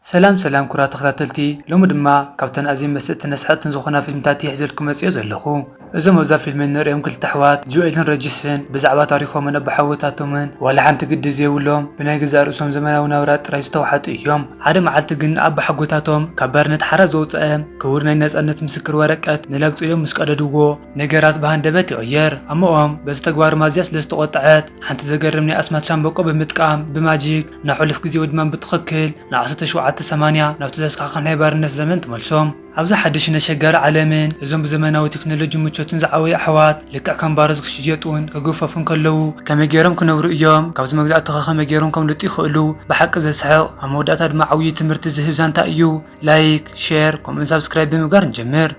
ሰላም ሰላም ኩራት ተከታተልቲ ሎሚ ድማ ካብተን ኣዝየን መሰጥትን ኣስሓቅትን ዝኮና ፊልምታት እየ ሒዘልኩም መፂኦ ዘለኩ እዞም ኣብዛ ፊልሚ እንሪኦም ክልተ ኣሕዋት ጆኤልን ረጅስን ብዛዕባ ታሪኮምን ኣቦሓጎታቶምን ዋላ ሓንቲ ግዲ ዘይብሎም ብናይ ገዛእ ርእሶም ዘመናዊ ናብራ ጥራይ ዝተውሓጡ እዮም ሓደ መዓልቲ ግን ኣቦሓጎታቶም ካብ ባርነት ሓራ ዘውፀኣም ክቡር ናይ ናፃነት ምስክር ወረቀት ንላግፂ ኢሎም ምስ ቀደድዎ ነገራት ብሃንደበት ይቅየር ኣሞኦም በዚ ተግባሮም ኣዝያ ስለ ዝተቆጠዐት ሓንቲ ዘገርም ናይ ኣስማት ሻምበቆ ብምጥቃም ብማጂክ ናብ ሕሉፍ ግዜዊ ድማ ብትኽክል ንዓሰርተ ሸውዓተ ሰማንያ ናብቲ ዘስካሕክሕ ናይ ባርነት ዘመን ትመልሶም። ኣብዛ ሓድሽን ኣሸጋሪ ዓለምን እዞም ብዘመናዊ ቴክኖሎጅን ምቾትን ዝዓበዩ ኣሕዋት ልክዕ ከም ባሮት ክሽየጡን ክግፈፉን ከለዉ ከመይ ጌሮም ክነብሩ እዮም? ካብዚ መግዛእቲኸ ከመይ ጌሮም ከምልጡ ይኽእሉ? ብሓቂ ዘስሕቕ ኣብ መወዳእታ ድማ ዓውዪ ትምህርቲ ዝህብ ዛንታ እዩ። ላይክ፣ ሼር ከምኡውን ሳብስክራይብ ብምግባር ንጀምር።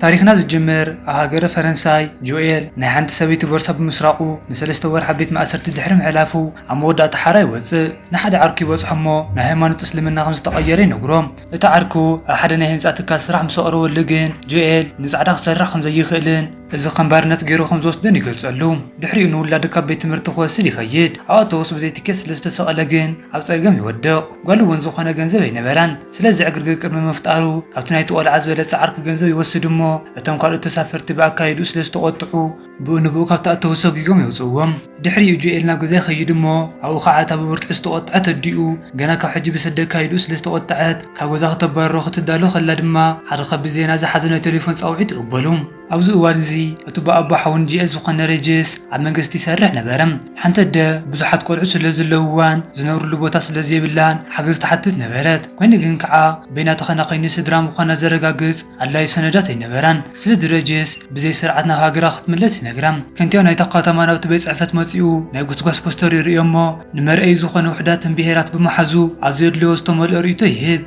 ታሪኽና ዝጅምር ኣብ ሃገረ ፈረንሳይ፣ ጆኤል ናይ ሓንቲ ሰበይቲ ቦርሳ ብምስራቑ ንሰለስተ ወርሒ ኣብ ቤት ማእሰርቲ ድሕሪ ምሕላፉ ኣብ መወዳእታ ሓራ ይወጽእ። ንሓደ ዓርኩ ይበጽሖ እሞ ናብ ሃይማኖት እስልምና ከም ዝተቐየረ ይነግሮ። እቲ ዓርኩ ኣብ ሓደ ናይ ህንጻ ትካል ስራሕ ምስ ኣቕረበሉ ግን ጆኤል ንጻዕዳ ክሰርሕ ከም ዘይኽእልን፣ እዚ ከም ባርነት ገይሩ ከም ዝወስደን ይገልጸሉ። ድሕሪኡ ንውላዱ ካብ ቤት ትምህርቲ ክወስድ ይኸይድ። ኣብ ኣውቶቡስ ብዘይ ትኬት ስለ ዝተሰቐለ ግን ኣብ ጸገም ይወድቕ። ጓሉ እውን ዝኾነ ገንዘብ ኣይነበራን። ስለዚ ዕግርግር ቅድሚ ምፍጣሩ ካብቲ ናይቲ ቆልዓ ዝበለጸ ዓርኪ ገንዘብ ይወስድ እሞ እቶም ካልኦት ተሳፈርቲ ብኣካይድኡ ስለ ዝተቖጥዑ ብኡ ንብኡ ካብቲ ኣውቶቡስ ሰጒጎም የውጽእዎም። ድሕሪኡ ጆኤል ናብ ገዛ ይኸይድ እሞ ኣብኡ ኸዓ እታ ብብርቱዕ ዝተቖጠዐት ኣዲኡ ገና ካብ ሕጂ ብሰደካ ኢሉ ስለ ዝተቖጠዐት ካብ ገዛ ክተባርሮ ክትዳሎ ከላ ድማ ሓደ ከቢድ ዜና ዝሓዘ ናይ ቴሌፎን ጻውዒት ትቕበሉ። ኣብዚ እዋን እዚ እቲ ብኣቦ ሓውን ጆኤል ዝኾነ ሬጅስ ኣብ መንግስቲ ይሰርሕ ነበረ። ሓንቲ ኣደ ብዙሓት ቆልዑት ስለ ዘለውዋን ዝነብርሉ ቦታ ስለ ዘይብላን ሓገዝ ትሓትት ነበረት። ኮይኑ ግን ከኣ በይና ተኸናኺኒ ስድራ ምዃና ዘረጋግጽ ኣድላይ ሰነዳት ኣይነበራን። ስለ ዝረጀየስ ብዘይ ስርዓት ናብ ሃገራ ክትምለስ ይነግራ። ከንቲባ ናይታ ከተማ ናብቲ ቤት ጽሕፈት መጺኡ ናይ ጉስጓስ ፖስተር ይርእዮ'ሞ ንመርኣዪ ዝኾነ ውሑዳትን ብሄራት ብምሓዙ ኣዝዩ ኣድልዎ ዝተመልኦ ርእይቶ ይህብ።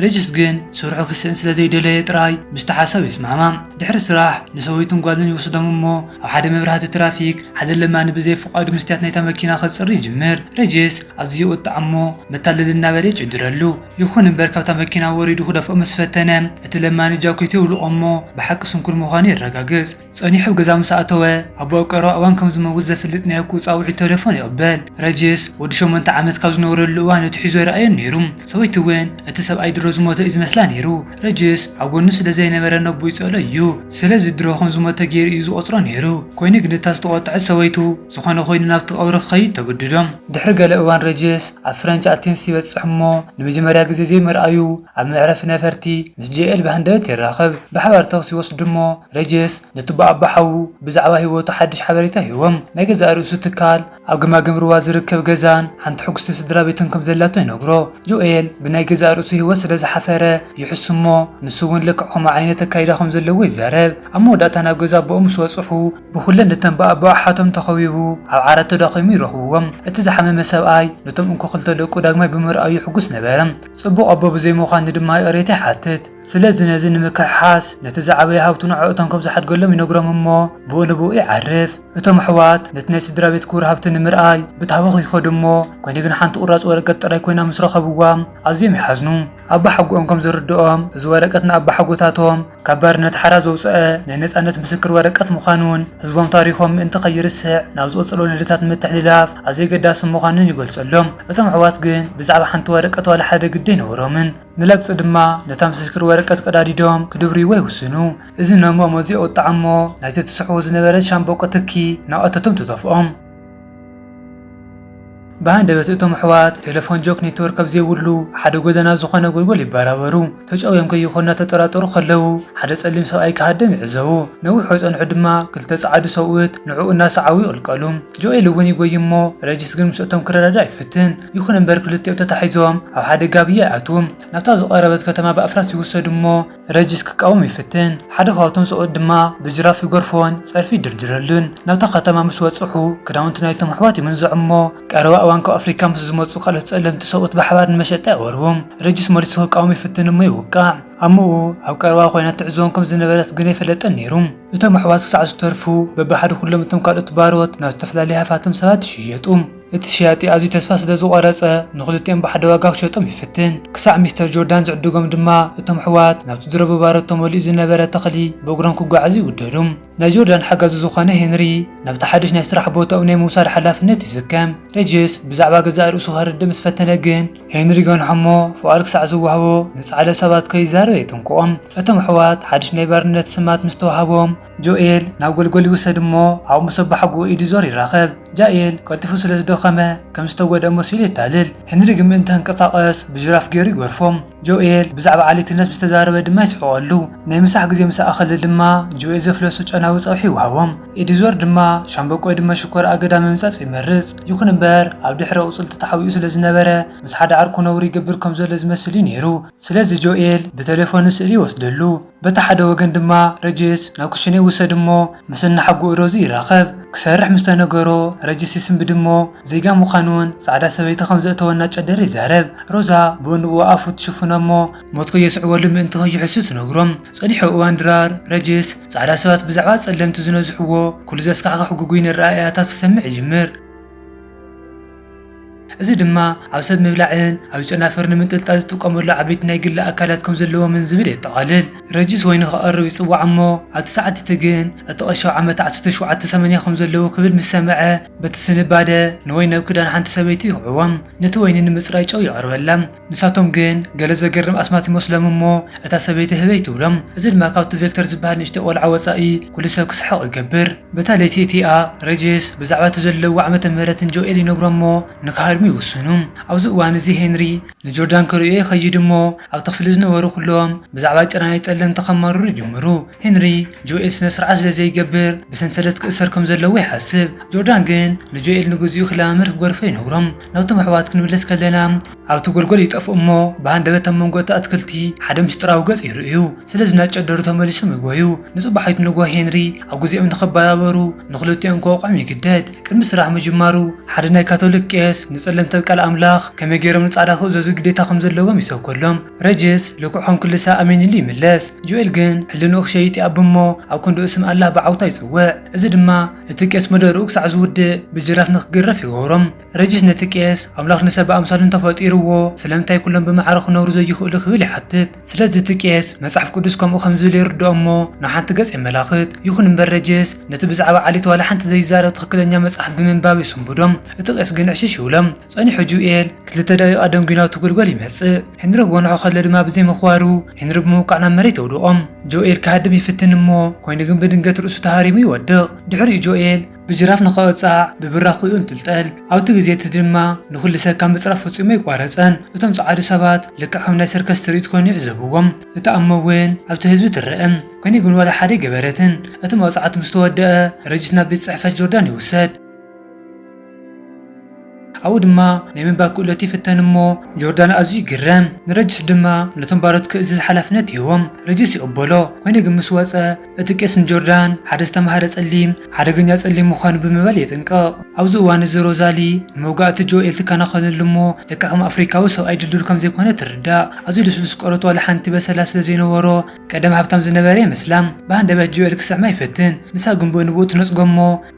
ረጅስ ግን ስርሑ ክስእን ስለ ዘይደለየ ጥራይ ምስቲ ሓሳብ ይስማዕማዕ። ድሕሪ ስራሕ ንሰበይቱን ጓሉን ይወስዶም እሞ ኣብ ሓደ መብራህቲ ትራፊክ ሓደ ለማኒ ብዘይ ፍቓዱ መስትያት ናይታ መኪና ከጽሪ ይጅምር። ረጅስ ኣዝዩ ይቑጣዕ እሞ መታለሊ እናበለ ይጭድረሉ። ይኹን እምበር ካብታ መኪና ወሪዱ ክደፍኦ ምስ ፈተነ፣ እቲ ለማኒ ጃኬቱ የውልቖ እሞ ብሓቂ ስንኩል ምዃኑ የረጋግጽ። ጸኒሑ ኣብ ገዛ ምስ ኣእተወ፣ ኣቦ ኣብ ቀረባ እዋን ከም ዝመውት ዘፍልጥ ናይ እኩ ጻውዒት ተሌፎን ይቕበል። ረጅስ፣ ወዲ ሸሞንተ ዓመት ካብ ዝነበረሉ እዋን እቲ ሒዞ ኣይረኣዮን ነይሩ። ሰበይቱ እውን እቲ ሰብኣይ ድሮ ዝሞተ እዩ ዝመስላ ነይሩ። ረጅስ ኣብ ጎኑ ስለ ዘይነበረ ነቦ ይጸልኦ እዩ። ስለዚ ድሮ ከም ዝሞተ ገይሩ እዩ ዝቖጽሮ ነይሩ። ኮይኑ ግን እታ ዝተቖጥዐት ሰበይቱ፣ ዝኾነ ኮይኑ ናብቲ ቀብሪ ክኸይድ ተገዲዶም። ድሕሪ ገለ እዋን ረጀስ ኣብ ፍረንች ኣቴንስ ይበጽሕ እሞ ንመጀመርያ ግዜ ዘይምርኣዩ ኣብ መዕረፊ ነፈርቲ ምስ ጀኤል ብሃንደበት ይራኸብ። ብሓባር ተኽሲ ይወስዱ እሞ ረጀስ ንቱባ ኣቦ ሓዉ ብዛዕባ ህይወቱ ሓድሽ ሓበሬታ ይህቦም። ናይ ገዛእ ርእሱ ትካል፣ ኣብ ገማግም ሩባ ዝርከብ ገዛን ሓንቲ ሕጉስቲ ስድራቤትን ከም ዘላቶ ይነግሮ። ጆኤል ብናይ ገዛእ ርእሱ ህይወት ስለ ዝሓፈረ ይሕሱ እሞ ንሱ እውን ልክዕ ከምኡ ዓይነት ኣካይዳ ከም ዘለዎ ይዛረብ። ኣብ መወዳእታ ናብ ገዛ ኣቦኦም ምስ በጽሑ ብኹለን እተን ብኣቦ ኣሓቶም ተኸቢቡ ኣብ ዓራት ተዳኺሙ ይረኽብዎ። እቲ ዝሓመመ ሰብኣይ ነቶም እንኮ ክልተ ደቁ ዳግማይ ብምርኣዩ ሕጉስ ነበረ። ጽቡቕ ኣቦ ብዘይምዃኑ ድማ ይቕሬታ ይሓትት። ስለዚ ነዚ ንምክሕሓስ ነቲ ዝዓበየ ሃብቱ ንዕኦቶም ከም ዝሓድገሎም ይነግሮም እሞ ብኡ ንብኡ ይዓርፍ። እቶም ኣሕዋት ነቲ ናይ ስድራቤት ክቡር ሃብቲ ንምርኣይ ብታህዋኽ ይኸዱ እሞ ኮይኑ ግን ሓንቲ ቁራጽ ወረቀት ጥራይ ኮይና ምስ ረኸብዋ ኣዝዮም ይሓዝኑ። ኣባሓጎኦም ከም ዘርድኦም እዚ ወረቀት ንኣባሓጎታቶም፣ ካብ ባርነት ሓራ ዘውጸኣ ናይ ነጻነት ምስክር ወረቀት ምዃኑን ህዝቦም ታሪኾም ምእንቲ ከይርስዕ ናብ ዝቕጽል ወለዶታት ንምትሕልላፍ ኣዝዩ ኣገዳሲ ምዃኑን ይገልጸሎም። እቶም ኣሕዋት ግን ብዛዕባ ሓንቲ ወረቀት ዋላ ሓደ ግዲ ኣይነበሮምን። ንለግጺ ድማ ነታ ምስክር ወረቀት ቀዳዲዶም ክድብርይዋ ይውስኑ። እዚ ነሞኦም ኣዝዩ ኣወጠዖም'ሞ ናይቲ ትስሕዎ ዝነበረት ሻምበቆ ትኪ እናቐተቶም ተደፍኦም። ብሃንደበት እቶም ኣሕዋት ቴለፎን ጆክ ኔትወርክ ኣብ ዘይብሉ ሓደ ጎደና ዝኾነ ጎልጎል ይበራበሩ። ተጨውዮም ከይኾኑ እናተጠራጠሩ ከለዉ ሓደ ጸሊም ሰብኣይ ክሃድም ይዕዘቡ። ነዊሕ ከይጸንሑ ድማ ክልተ ጸዓዱ ሰብኡት ንዕኡ እናሰዓቡ ይቕልቀሉ። ጆኤል እውን ይጎዪ እሞ ረጂስ ግን ምስ'ቶም ክረዳዳእ ይፍትን። ይኹን እምበር ክልቲኦም ተታሒዞም ኣብ ሓደ ጋብያ ይኣትዉ። ናብታ ዝቐረበት ከተማ ብኣፍራስ ይውሰዱ እሞ፣ ረጂስ ክቃወም ይፍትን፣ ሓደ ካብቶም ሰብኡት ድማ ብጅራፍ ይገርፎን ጸርፊ ይድርድረሉን። ናብታ ከተማ ምስ በጽሑ፣ ክዳውንቲ ናይቶም ኣሕዋት ይምንዝዑ እሞ፣ ቀረባ እዋን ካብ ኣፍሪቃ ምስ ዝመጹ ካልኦት ጸለምቲ ሰብኡት ብሓባር ንመሸጣ የቕርቡም። ረጂስ መሊሱ ክቃወም ይፍትን እሞ ይውቃዕ። ኣሞኡ ኣብ ቀረባ ኮይና ትዕዘቦም ከም ዝነበረት ግን ኣይፈለጠን ነይሩ። እቶም ኣሕዋት ክሳዕ ዝተርፉ፣ በብሓደ ኩሎም እቶም ካልኦት ባሮት ናብ ዝተፈላለየ ሃፋትም ሰባት ይሽየጡ። እቲ ሸያጢ ኣዝዩ ተስፋ ስለ ዝቖረጸ፣ ንኽልቲኦም ብሓደ ዋጋ ክሸጦም ይፍትን። ክሳዕ ሚስተር ጆርዳን ዝዕድጎም ድማ፣ እቶም ኣሕዋት ናብቲ ድሮ ብባሮት ተመሊኡ ዝነበረ ተኽሊ ብእግሮም ክጓዓዙ ይውደዱ። ናይ ጆርዳን ሓጋዚ ዝዀነ ሄንሪ፣ ናብቲ ሓድሽ ናይ ስራሕ ቦታኡ ናይ ምውሳድ ሓላፍነት ይስከም። ሬጅስ ብዛዕባ ገዛእ ርእሱ ከረድእ ምስ ፈተነ ግን፣ ሄንሪ ይገንሖ እሞ ፍቓድ ክሳዕ ዝወሃቦ ንጻዕዳ ሰባት ከይዛረብ የጠንቅቖም። እቶም ኣሕዋት ሓድሽ ናይ ባርነት ስማት ምስ ተዋህቦም፣ ጆኤል ናብ ጎልጎል ይውሰድ እሞ ኣብኡ ምስ ኣቦሓጎኡ ኤዲዞር ይራኸብ። ጃኤል ቀልጢፉ ስለ ዝደኸመ ከም ዝተጎድኣ መሲሉ የታልል። ሄንሪ ግን ምእንቲ ክንቀሳቐስ ብጅራፍ ገይሩ ይገርፎ። ጆኤል ብዛዕባ ዓሌትነት ምስ ተዛረበ ድማ ይስሕቐሉ። ናይ ምሳሕ ግዜ ምስ ኣኸለ ድማ ጆኤል ዘፍለሶ ጨናዊ ጸብሒ ይውሃቦም። ኤዲዞር ድማ ሻምበቆ እድመ ሽኮር ኣገዳ ምምጻጽ ይመርጽ። ይኹን እምበር ኣብ ድሕረ ኣቑጽልቲ ተሓቢኡ ስለ ዝነበረ ምስ ሓደ ዓርኩ ነውሪ ይገብር ከም ዘሎ ዝመስል እዩ ነይሩ። ስለዚ ጆኤል ብተሌፎኑ ስእሊ ይወስደሉ። በቲ ሓደ ወገን ድማ ረጅስ ናብ ክሽነ ይውሰድ እሞ ምስ እናሓጎኡ ሮዚ ይራኸብ። ክሰርሕ ምስ ተነገሮ ረጅስ ይስንብድ እሞ ዜጋ ምዃኑን ጻዕዳ ሰበይቲ ከም ዘእተወ እናጨደረ ይዛረብ። ሮዛ ብእንብኡ ኣፉ ትሽፍኖ እሞ ሞት ከየስዕበሉ ምእንቲ ከይሕሱ ትነግሮም። ጸኒሑ እዋን ድራር ረጅስ ጻዕዳ ሰባት ብዛዕባ ጸለምቲ ዝነዝሕዎ ኩሉ ዘስካሕኽሕ ግጉይ ነረኣእያታት ክሰምዕ ይጅምር። እዚ ድማ ኣብ ሰብ ምብላዕን ኣብ ጨናፍር ንምንጥልጣል ዝጥቀመሉ ዓበይቲ ናይ ግሊ ኣካላት ከም ዘለዎምን ዝብል የጠቓልል። ረጂስ ወይኒ ክቐርብ ይጽዋዕ እሞ ኣብቲ ሰዓት እቲ ግን እቲ ቀሻው ዓመት ዓሰርተ ሸውዓተ ሰመንያ ከም ዘለዎ ክብል ምስ ሰምዐ በቲ ስንባደ ንወይኒ ኣብ ክዳን ሓንቲ ሰበይቲ ይኹዕዎም ነቲ ወይኒ ንምጽራይ ጨው የቕርበላ። ንሳቶም ግን ገለ ዘገርም ኣስማት ይመስሎም እሞ እታ ሰበይቲ ህበይ ትብሎም። እዚ ድማ ካብቲ ቬክተር ዝበሃል ንእሽቶ ቆልዓ ወጻኢ ኩሉ ሰብ ክስሕቕ ይገብር። በታ ለይቲ እቲኣ ሬጅስ ብዛዕባ እቲ ዘለዎ ዓመተ ምህረት ንጆኤል ይነግሮ እሞ ንክሃድሙ ይውስኑ። ኣብዚ እዋን እዚ ሄንሪ ንጆርዳን ክርእዮ ይኸይድ እሞ ኣብቲ ክፍሊ ዝነበሩ ኩሎም ብዛዕባ ጭራ ናይ ጸለምቲ ከማርሩ ይጅምሩ። ሄንሪ ጆኤል ስነ ስርዓት ስለ ዘይገብር ብሰንሰለት ክእሰር ከም ዘለዎ ይሓስብ። ጆርዳን ግን ንጆኤል ንግዚኡ ክለማመድ ክገርፎ ይነግሮ። ናብቶም ኣሕዋት ክንምለስ ከለና ኣብቲ ጎልጎል ይጠፍኡ እሞ ብሃንደበት ኣብ መንጎ እቲ ኣትክልቲ ሓደ ምስጢራዊ ገጽ ይርእዩ። ስለዚ እናጨደሩ ተመሊሶም ይጎዩ። ንጽባሒቱ ንግሆ ሄንሪ ኣብ ግዜኦም ንኽበራበሩ ንኽልቲኦም ከውቕዖም ይግደድ። ቅድሚ ስራሕ ምጅማሩ ሓደ ናይ ካቶሊክ ቄስ ንጸለምቲ ኣብ ቃል ኣምላኽ ከመይ ገይሮም ንጻዕዳ ክእዘዙ ግዴታ ከም ዘለዎም ይሰብከሎም። ረጅስ ልክዖም ክልሰ ኣሜን ኢሉ ይምለስ። ጆኤል ግን ሕልንኡ ክሸይጥ ይኣቢ እሞ ኣብ ክንድኡ ስም ኣላህ ብዓውታ ይጽውዕ። እዚ ድማ እቲ ቄስ መደርኡ ክሳዕ ዝውድእ ብጅራፍ ንክግረፍ ይገብሮም። ረጂስ ነቲ ቄስ፣ ኣምላኽ ንሰብ ብኣምሳሉ እንተ ፈጢርዎ፣ ስለምንታይ ኵሎም ብማዕረ ክነብሩ ዘይኽእሉ? ክብል ይሓትት። ስለዚ እቲ ቄስ፣ መጽሓፍ ቅዱስ ከምኡ ከም ዝብል የርድኦ እሞ ንሓንቲ ገጽ የመላኽት። ይኹን እምበር ረጂስ ነቲ ብዛዕባ ዓሌት ዋላ ሓንቲ ዘይዛረብ ትኽክለኛ መጽሓፍ ብምንባብ የሰንብዶም። እቲ ቄስ ግን ዕሽሽ ይብሎም። ጸኒሑ ጁኤል፣ ክልተ ደቒቕ ኣደንጒዩ ናብቲ ጕልጎል ይመጽእ። ሄንሪ ክጎንሖ ከሎ ድማ ብዘይ ምኽባሩ ሄንሪ ብምውቃዕ ናብ መሬት የውድቖም። ጆኤል ክሃድም ይፍትን እሞ ኮይኑ ግን ብድንገት ርእሱ ተሃሪሙ ይወድቕ። ድሕሪኡ ጆኤል ብጅራፍ ንኽቕጻዕ ብብራኹኡ እንትልጠል ኣብቲ ግዜ እቲ ድማ ንኹሉ ሰብ ካብ ምጽራፍ ፈጺሙ ኣይቋረጸን። እቶም ጸዓዱ ሰባት ልክዕ ከም ናይ ሰርከስ ትርኢት ኮይኑ ይዕዘብዎም። እታ እሞ እውን ኣብቲ ህዝቢ ትረእም። ኮይኑ ግን ዋላ ሓደ ኣይገበረትን። እቲ መቕጻዕቲ ምስ ተወደኣ ረጂስ ናብ ቤት ጽሕፈት ጆርዳን ይውሰድ። ኣብኡ ድማ ናይ ምንባር ክእለቱ ይፍተን እሞ ጆርዳን ኣዝዩ ይግረም። ንረጅስ ድማ ነቶም ባሮት ክእዝዝ ሓላፍነት ይህቦም። ረጅስ ይቕበሎ። ኰይኑ ግን ምስ ወጸ፣ እቲ ቄስ ንጆርዳን ሓደ ዝተማህረ ጸሊም፣ ሓደገኛ ጸሊም ምዃኑ ብምባል የጠንቅቕ። ኣብዚ እዋን እዚ ሮዛሊ ንመውጋእቲ ጆኤል ትከናኸነሉ እሞ ልክዕ ከም ኣፍሪካዊ ሰብኣይ ድልዱል ከም ዘይኰነ ትርዳእ። ኣዝዩ ልስሉስ ቆርበት ዋላ ሓንቲ በሰላ ስለ ዘይነበሮ ቀደም ሃብታም ዝነበረ ይመስላ። ብሃንደበት ጆኤል ክስዕማ ይፈትን። ንሳ ግን ብኡ ንብኡ ትነጽጎ እሞ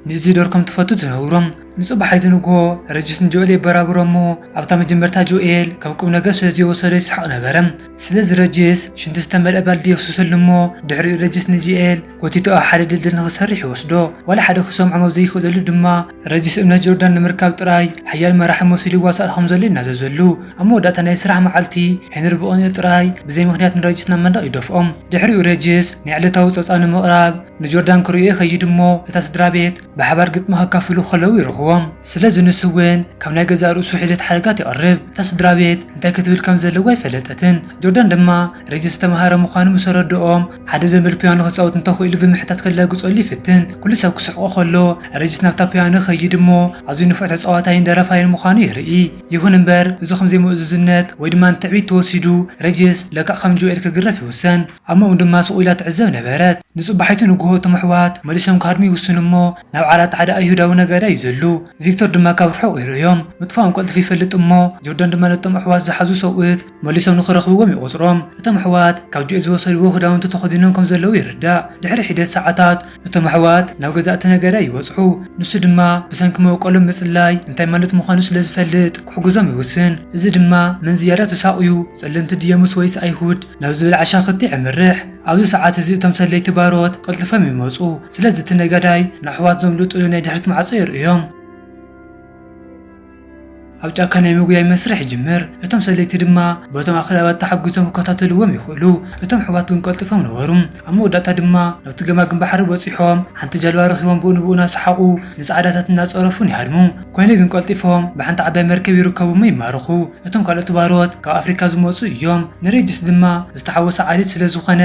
ንእዚዶር ከም ትፈቱ ትነግሮም። ንጽባሒቱ ንግሆ ረጅስ ንጆኤል የበራብሮ እሞ ኣብታ መጀመርታ ጆኤል ከም ቁምነገር ስለ ዘይወሰዶ ይስሕቕ ነበረ። ስለዚ ረጅስ ሽንቲ ዝተመልኣ ባልዲ የፍስሰሉ እሞ ድሕሪኡ ረጅስ ንጆኤል ጎቲቱ ኣብ ሓደ ድልድል ንኽሰርሕ ይወስዶ። ዋላ ሓደ ክሰምዖም ኣብ ዘይክእለሉ ድማ ረጅስ እምነት ጆርዳን ንምርካብ ጥራይ ሓያል መራሒ መሲሉ ይዋሳእ ከም ዘሎ ይናዘዘሉ። ኣብ መወዳእታ ናይ ስራሕ መዓልቲ ሄንሪ ብቕንኢ ጥራይ ብዘይ ምኽንያት ንረጅስ ናብ መንደቕ ይደፍኦም። ድሕሪኡ ረጅስ ናይ ዕለታዊ ጸብጻብ ንምቕራብ ንጆርዳን ክሪኡ ይኸይድ እሞ እታ ስድራቤት ብሓባር ግጥሚ ከካፍሉ ከለዉ ይረኽቦም። ስለዚ ንሱ እውን ካብ ናይ ገዛእ ርእሱ ሒደት ሓረጋት የቕርብ። እታ ስድራቤት እንታይ ክትብል ከም ዘለዋ ኣይፈለጠትን። ጆርዳን ድማ ሬጅስ ዝተመሃረ ምዃኑ ምስ ኣረድኦም ሓደ ዘንበል ፒያኖ ክጻወት እንተኽኢሉ ብምሕታት ከላግጸሉ ይፍትን። ኩሉ ሰብ ክስሕቖ ከሎ ሬጅስ ናብታ ፒያኖ ይኸይድ እሞ ኣዝዩ ንፉዕ ተጻዋታይን ደራፋይን ምዃኑ የርኢ። ይኹን እምበር እዚ ከም ዘይምእዙዝነት ወይ ድማ ንትዕቢት ተወሲዱ ሬጅስ ለክዕ ከም ጆኤል ክግረፍ ይውሰን። ኣሞኡ ድማ ስቕ ኢላ ትዕዘብ ነበረት። ንጽባሒቱ ንግሆ እቶም ኣሕዋት መሊሶም ክሃድሙ ይውስኑ እሞ፣ ናብ ዓራት ሓደ ኣይሁዳዊ ነጋዳይ ይዘሉ። ቪክቶር ድማ ካብ ርሑቕ ይርእዮም። ምጥፋኦም ቀልጢፉ ይፈልጥ እሞ፣ ጆርዳን ድማ ነቶም ኣሕዋት ዝሓዙ ሰብኡት መሊሶም ንኽረኽብዎም ይቖጽሮም። እቶም ኣሕዋት ካብ ጆኤል ዝወሰድዎ ክዳውንቲ ተኸዲኖም ከም ዘለዉ ይርዳእ። ድሕሪ ሒደት ሰዓታት፣ እቶም ኣሕዋት ናብ ገዛእ እቲ ነገረ ይበጽሑ፣ ንሱ ድማ ብሰንኪ መበቆሎም ምጽላይ እንታይ ማለት ምዃኑ ስለ ዝፈልጥ ክሕግዞም ይውስን። እዚ ድማ መን ዝያዳ ተሳቕዩ፣ ጸለምቲ ድዮምስ ወይስ ኣይሁድ? ናብ ዝብል ዓሻ ኽቲ የምርሕ። ኣብዚ ሰዓት እዚ እቶም ሰለይቲ ባሮት ቀልጢፎም ይመጹ፣ ስለዚ እቲ ነጋዳይ ንኣሕዋት ዘምልጡሉ ናይ ድሕሪት ማዕጾ የርእዮም። ኣብ ጫካ ናይ ምጉያይ መስርሕ ይጅምር። እቶም ሰለይቲ ድማ በቶም ኣኽላባት ተሓጒሶም ክከታተልዎም ይኽእሉ። እቶም ኣሕዋት ግን ቀልጢፎም ነበሩ። ኣብ መወዳእታ ድማ ናብቲ ገማግም ባሕሪ በጺሖም ሓንቲ ጃልባ ረኺቦም ብኡ ንብኡ እናሰሓቑ ንጻዕዳታት እናጸረፉን ይሃድሙ። ኰይኑ ግን ቀልጢፎም ብሓንቲ ዓባይ መርከብ ይርከቡ'ሞ ይማረኹ። እቶም ካልኦት ባሮት ካብ ኣፍሪቃ ዝመጹ እዮም። ንሬጅስ ድማ ዝተሓወሰ ዓሌት ስለ ዝዀነ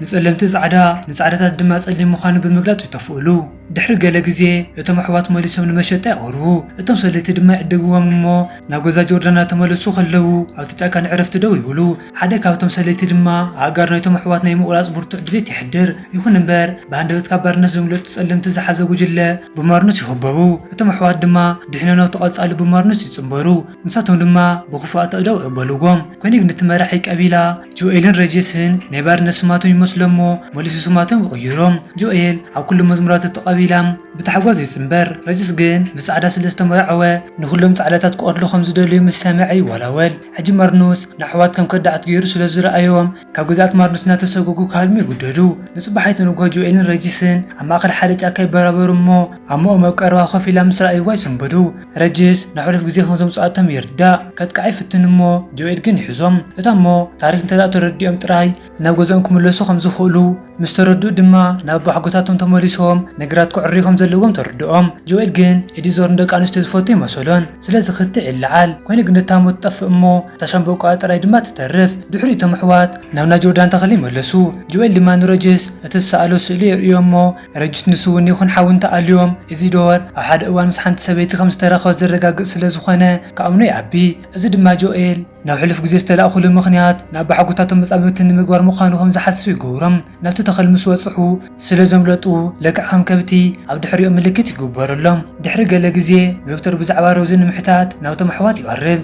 ንጸለምቲ ጻዕዳ ንጻዕዳታት ድማ ጸሊም ምዃኑ ብምግላጽ ይተፍኡሉ። ድሕሪ ገለ ግዜ እቶም ኣሕዋት መሊሶም ንመሸጣ ይቐርቡ፣ እቶም ሰለይቲ ድማ ይዕድግዎም እሞ ናብ ገዛ ጆርዳን እናተመለሱ ኸለዉ ኣብቲ ጫካ ንዕረፍቲ ደው ይብሉ። ሓደ ካብቶም ሰለይቲ ድማ ኣእጋር ናይቶም ኣሕዋት ናይ ምቝራጽ ብርቱዕ ድሌት የሕድር። ይኹን እምበር፣ ብሃንደበት ካብ ባርነት ዘምለጡ ጸለምቲ ዝሓዘ ጕጅለ ብማርኖስ ይኽበቡ፣ እቶም ኣሕዋት ድማ ድሒኖም ናብቲ ቐጻሊ ብማርኖስ ይጽንበሩ፣ ንሳቶም ድማ ብኽፉኣት ኣእዳው ይቕበልዎም። ኮኒግ ነቲ መራሒ ቀቢላ፣ ጆኤልን ረጀስን ናይ ባርነት ስማቶም ይመስሎም እሞ መሊሱ ስማቶም ይቕይሮ። ጆኤል ኣብ ኩሉ መዝሙራቱ ተቐቢላ ብታሕጓስ ይጽንበር፣ ረጀስ ግን ምስ ጻዕዳ ስለ ዝተመርዐወ ንኹሎም ጻዕዳታት ክቐትሉ ከም ዝደልዩ ምስ ሰምዐ ይወላወል። ሕጂ ማርኑስ ንኣሕዋት ከም ከዳዓት ገይሩ ስለ ዝረኣዮም ካብ ግዝኣት ማርኑስ እናተሰጎጉ ክሃድሙ ይግደዱ። ንጽባሒቱ ንግሆ ጆኤልን ረጀስን ኣብ ማእከል ሓደ ጫካ ይበራበሩ እሞ ኣብ መኦም ኣብ ቀረባ ኮፍ ኢላ ምስ ረኣይዋ ይስንብዱ። ረጅስ ንሕሉፍ ግዜ ከም ዘምጽኣ እቶም ይርዳእ ከጥቅዓ ይፍትን እሞ ጆኤድ ግን ይሕዞም እታ እሞ ታሪክ እንተደኣ ተረዲኦም ጥራይ ናብ ገዝኦም ክምለሱ ከም ዝክእሉ ምስ ተረድኡ ድማ ናብ ኣቦሓጎታቶም ተመሊሶም ነገራት ከዕርዩ ከም ዘለዎም ተርድኦም ጆኤል ግን ኤዲዞር ንደቂ ኣንስትዮ ዝፈቱ ኣይመሰሎን ስለዚ ክትዕ ይለዓል ኮይኑ ግን እታ እሞ ትጠፍእ እሞ እታ ሻምበቆኣ ጥራይ ድማ ትተርፍ ድሕሪኡ እቶም ኣሕዋት ናብ ናይ ጆርዳን ተክሊ ይመለሱ ጆኤል ድማ ንረጅስ እቲ ዝሰኣሎ ስእሊ የርእዮ እሞ ረጅት ንሱ'ውን ይኹን ሓው እንተኣልዮም፣ እዚ ዶር ኣብ ሓደ እዋን ምስ ሓንቲ ሰበይቲ ከም ዝተራኸበ ዘረጋግጽ ስለ ዝኾነ ክኣምኖ ይኣቢ። እዚ ድማ ጆኤል ናብ ሕሉፍ ግዜ ዝተላእኩሉ ምኽንያት ንኣቦሓጎታቶም መጻምብቲ ንምግባር ምዃኑ ከም ዝሓስቡ ይገብሮም። ናብቲ ተኽል ምስ በጽሑ ስለ ዘምለጡ ልክዕ ከም ከብቲ ኣብ ድሕሪኦም ምልክት ይግበረሎም። ድሕሪ ገለ ግዜ ዶክተር ብዛዕባ ሮዚ ንምሕታት ናብቶም ኣሕዋት ይቐርብ።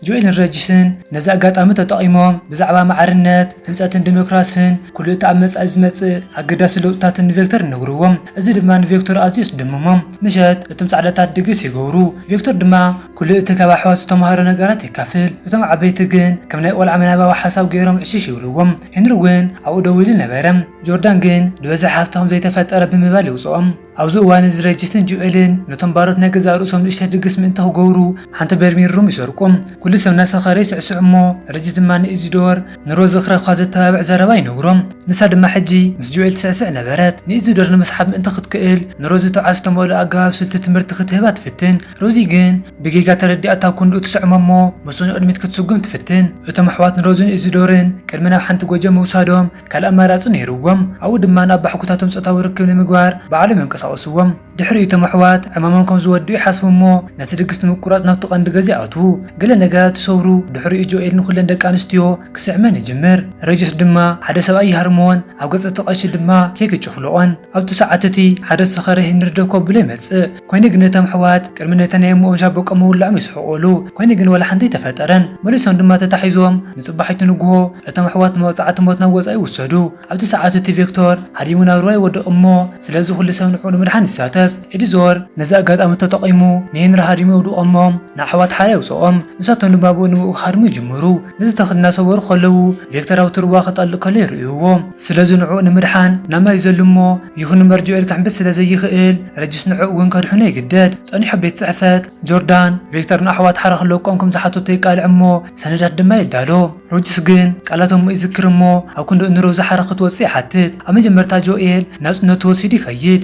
ጆኤልን ረጂስን ነዚ ኣጋጣሚ ተጠቒሞም ብዛዕባ ማዕርነት፣ ህንጸትን ዲሞክራስን ኩሉ እቲ ኣብ መጻኢ ዝመጽእ ኣገዳሲ ለውጥታትን ንቬክተር ይነግርዎም። እዚ ድማ ንቬክተር ኣዝዩ የስደምሞ። ምሸት እቶም ጻዕዳታት ድግስ ይገብሩ፣ ቬክተር ድማ ኩሉ እቲ ካብ ኣሕዋት ዝተማህሮ ነገራት የካፍል። እቶም ዓበይቲ ግን ከም ናይ ቆልዓ ምናባዊ ሓሳብ ገይሮም ዕሽሽ ይብልዎም። ሄንሪ እውን ኣብኡ ደው ኢሉ ነበረ። ጆርዳን ግን ብብዝሒ ሃብቲ ከም ዘይተፈጠረ ብምባል ይውጽኦም። ኣብዚ እዋን እዚ ረጅስን ጆኤልን ነቶም ባሮት ናይ ገዛእ ርእሶም ንእሽተይ ድግስ ምእንቲ ክገብሩ ሓንቲ በርሚል ሩም ይሰርቁ። ኩሉ ሰብ እናሰኸረ ይስዕስዕ እሞ ረጅስ ድማ ንኢዚዶር ንሮዝ ክረኽባ ዘተባብዕ ዘረባ ይነግሮ። ንሳ ድማ ሕጂ ምስ ጆኤል ትስዕስዕ ነበረት። ንኢዚዶር ንምስሓብ ምእንቲ ክትክእል ንሮዚ ትብዓት ዝተመልኦ ኣገባብ ስልቲ ትምህርቲ ክትህባ ትፍትን። ሮዚ ግን ብጌጋ ተረዲኣታ ክንድኡ ትስዕሞ እሞ ምስኡ ንቕድሚት ክትስጉም ትፍትን። እቶም ኣሕዋት ንሮዝን ኢዚዶርን ቅድሚ ናብ ሓንቲ ጎጆ ምውሳዶም፣ ካልእ ኣማራጺ ነይርዎም፣ ኣብኡ ድማ ናብ ባሕጉታቶም ጾታዊ ርክብ ንምግባር ባዕሎም የንቀሳቕስዎም። ድሕሪኡ እቶም ኣሕዋት ዕማሞም ከም ዝወድኡ ይሓስቡ እሞ ነቲ ድግስ ንምቁራጽ ናብቲ ቀንዲ ገዛ ይኣትዉ። ገለ ነገራት ይሰብሩ፣ ድሕሪኡ ጆኤል ንዅለን ደቂ ኣንስትዮ ክስዕመን ይጅምር። ረጅስ ድማ ሓደ ሰብኣይ ይሃርምዎን ኣብ ገጽ እቲ ቀሺ ድማ ኬክ ይጭፍልቖን። ኣብቲ ሰዓት እቲ ሓደ ዝሰኸረ ሄንሪ ደው ከብሎ ይመጽእ። ኮይኑ ግን እቶም ኣሕዋት ቅድሚ ነቲ ናይ እሞኦም ሻቦቆ ምውላኦም ይስሕቁሉ ኮይኑ ግን ዋላ ሓንቲ ኣይተፈጠረን መሊሶም ድማ ተታሒዞም ንጽባሒቱ ንግሆ እቶም ኣሕዋት ብመቅጻዕቲ ሞት ናብ ወጻኢ ይውሰዱ ኣብቲ ሰዓት እቲ ቬክቶር ሃዲሙ ናብ ሩባ ይወድቅ እሞ ስለዚ ኩሉ ሰብ ንዕኡ ንምድሓን ይሳተፍ ኢድ ዞር ነዚ ኣጋጣሚ ተጠቂሙ ንሄንሪ ሃዲሙ የውድቆ እሞ ንኣሕዋት ሓራ የውጽኦም ንሳቶም ድማ ብኡ ንብኡ ክሃድሙ ይጅምሩ ነዚ ተክሊ እናሰበሩ ከለዉ ቬክተር ኣብቲ ሩባ ክጠልቅ ከሎ ይርእይዎ ስለዚ ንዕኡ ንምድሓን ናብ ማይ ይዘሉ እሞ ይኹን እምበር ጆኤል ክሕምብስ ስለ ዘይኽእል ረጂስ ንዕኡ እውን ከድሕኖ ይግደድ። ጸኒሑ ቤት ጽሕፈት ጆርዳን፣ ቪክተር ንኣሕዋት ሓራ ክለቆም ከም ዝሓተቶ ይቃልዕ እሞ ሰነዳት ድማ የዳሎ። ሮጂስ ግን ቃላት እሞ ይዝክር እሞ ኣብ ክንዲ እንሮዚ ሓራ ክትወጽእ ይሓትት። ኣብ መጀመርታ ጆኤል ናጽነቱ ወሲዱ ይኸይድ።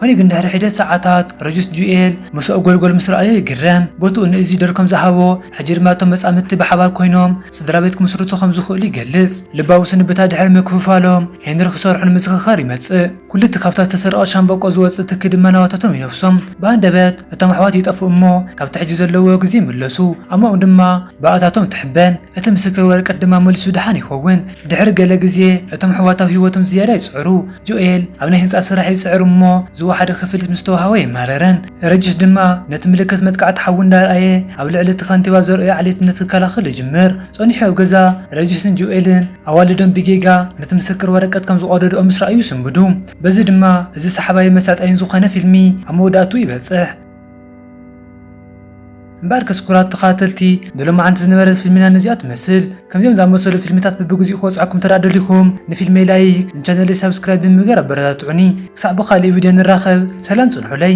ኮይኑ ግን ድሕሪ ሒደት ሰዓታት ረጁስ ጁኤል ምሰኦ ጎልጎል ምስ ረኣዮ ይግረም። ቦትኡ ንእዚ ዶር ከም ዝሃቦ፣ ሕጂ ድማ እቶም መጻምድቲ ብሓባር ኮይኖም ስድራቤት ክምስርቱ ከም ዝኽእሉ ይገልጽ። ልባዊ ስንብታ ድሕሪ ምክፍፋሎም፣ ሄንሪ ክሰርሑ ንምዝኽኻር ይመጽእ። ኩሉ እቲ ካብታ ዝተሰረቐት ሻምበቆ ዝወጽእ ትኪ ድማ ናባታቶም ይነፍሶም። ብሃንደበት እቶም ኣሕዋት ይጠፍኡ እሞ ካብቲ ሕጂ ዘለውዎ ግዜ ይምለሱ። ኣማኡን ድማ ብኣታቶም ትሕበን። እቲ ምስክር ወረቀት ድማ መሊሱ ድሓን ይኸውን። ድሕሪ ገለ ግዜ እቶም ኣሕዋት ኣብ ህይወቶም ዝያዳ ይጽዕሩ። ጆኤል ኣብ ናይ ህንጻ ስራሕ ይጽዕር እሞ ዝወሓደ ክፍሊት ምስ ተዋህቦ ኣይማረረን። ረጂስ ድማ ነቲ ምልክት መጥቃዕቲ ሓዊ እንዳርኣየ ኣብ ልዕሊ እቲ ከንቲባ ዘርእዮ ዓሌትነት ክከላኸል ይጅምር። ጸኒሑ ኣብ ገዛ ረጂስን ጆኤልን ኣዋልዶም ብጌጋ ነቲ ምስክር ወረቀት ከም ዝቐደድኦ ምስ ረኣዩ ይስንብዱ። በዚ ድማ እዚ ሰሓባይን መሳጣይን ዝኾነ ፊልሚ ኣብ መወዳእትኡ ይበጽሕ። እምበኣርከስ ኩራት ተኸታተልቲ ንሎማዓንቲ ዝነበረት ፊልምና ነዚኣ ትመስል። ከምዚኦም ዝኣመሰሉ ፊልምታት በብግዚኡ ክወጽዓኩም እንተ ደሊኹም ንፊልመይ ላይክ ንቻነለይ ሳብስክራይብ ብምግባር ኣበረታትዑኒ። ክሳዕ ብኻልእ ቪድዮ ንራኸብ ሰላም ጽንሑለይ።